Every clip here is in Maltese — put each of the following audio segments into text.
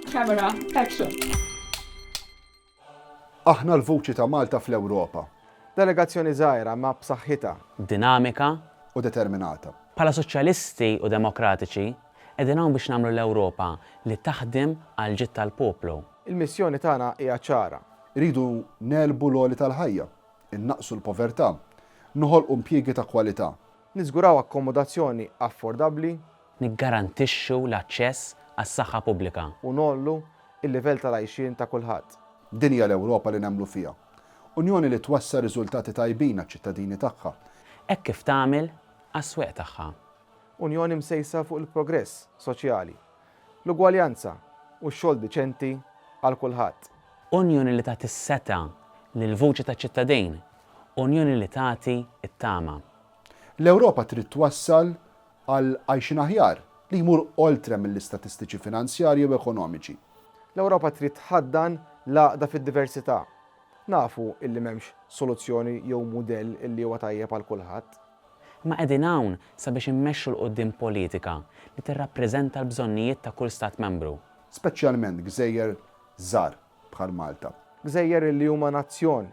Camera, action. Aħna l-vuċi ta' Malta fl-Ewropa. Delegazzjoni żgħira imma b'saħħitha. Dinamika. U determinata. Bħala Soċjalisti u Demokratiċi, qegħdin hawn biex nagħmlu l-Ewropa li taħdem għall-ġid tal-poplu. Il-missjoni tagħna hija ċara. Irridu negħlbu l-għoli tal-ħajja, innaqqsu l-povertà, noħolqu impjiegi ta' kwalità. Niżguraw akkomodazzjoni affordabbli. Niggarantixxu l-aċċess għas-saħħa pubblika. U ngħollu l-livell tal-għajxien ta' kulħadd. Din hija l-Ewropa li nemmlu fiha. Unjoni li twassal riżultati tajbin għaċ-ċittadini tagħha. Hekk kif tagħmel għas-swieq tagħha. Unjoni msejsa fuq il-progress soċjali, l-ugwaljanza u x-xogħol diċenti għal kulħadd. Unjoni li tagħti s-setgħa lill-vuċi taċ-ċittadin. Unjoni li tagħti t-tama. L-Ewropa trid twassal għal għajxien aħjar li jmur oltre mill-istatistiċi finanzjarji u ekonomiċi. L-Ewropa trid tħaddan l-għaqda fid-diversità. Nafu illi m'hemmx soluzzjoni jew mudell illi huwa tajjeb għal kulħadd. Imma qegħdin hawn sabiex immexxu 'l quddiem politika li tirrappreżenta l-bżonnijiet ta' kull Stat Membru. Speċjalment gżejjer żgħar. bħal Malta. Gżejjer li huma nazzjon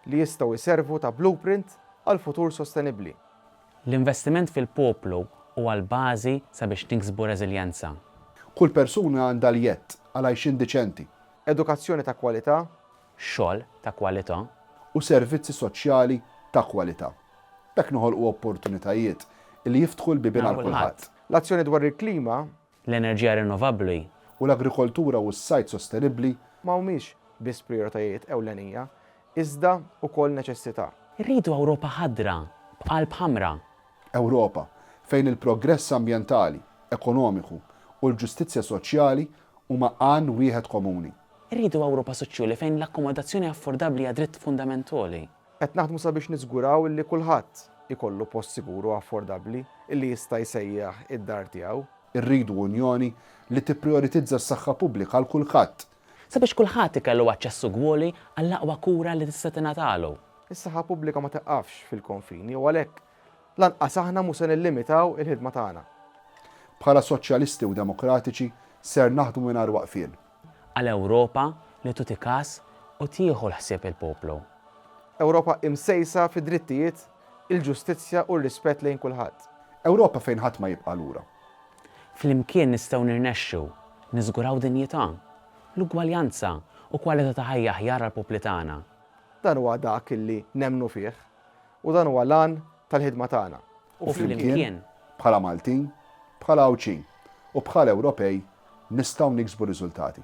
li jistgħu jservu ta' blueprint għal futur sostenibbli. L-investiment fil-poplu huwa l-bażi sabiex niksbu reżiljenza. Kull persuna għandha l-jedd għal għajxien diċenti. Edukazzjoni ta' kwalità. Xogħol ta' kwalità. U servizzi soċjali ta' kwalità. B'hekk noħolqu opportunitajiet li jiftħu l-bibien għal kulħadd. L-azzjoni dwar il-klima l-enerġija rinnovabbli, u l-agrikoltura u s-sajd sostenibbli, ma humiex biss prijoritajiet ewlenija, iżda wkoll neċessità. Irridu Ewropa ħadra, b'qalb ħamra. Ewropa fejn il-progress ambjentali, ekonomiku u l-ġustizzja soċjali huma għan wieħed komuni. Irridu Ewropa soċjuli fejn l-akkomodazzjoni affordabbli hija dritt fundamentali. Qed naħdmu sabiex niżguraw illi kulħadd ikollu post sigur u affordabbli illi jista' jsejjaħ id-dar tiegħu. Irridu Unjoni li tipprijoritizza s-saħħa pubblika għal kulħadd. Sabiex kulħadd ikellu aċċess ugwali għall-aqwa kura li tista' tingħatalu. Is-saħħa pubblika ma tiqqafx fil-konfini u għalhekk lanqas aħna mhu se nillimitaw il-ħidma tagħna. Bħala Soċjalisti u Demokratiċi ser naħdmu mingħajr waqfien Għal Ewropa li tuti kas u tieħu l-ħsieb il-poplu. Ewropa imsejsa fid-drittijiet, il-ġustizzja u r-rispett lejn kulħadd. Ewropa fejn ħadd ma jibqa' lura. Flimkien nistgħu nirnexxu niżguraw dinjità, l-ugwaljanza u kwalità ta' ħajja aħjar għall-popli tagħna. Dan huwa dak li nemmnu fih. U dan huwa l-għan tal-ħidma tagħna. U flimkien, bħala Maltin, bħala Għawdxin u bħala Ewropej nistgħu niksbu riżultati.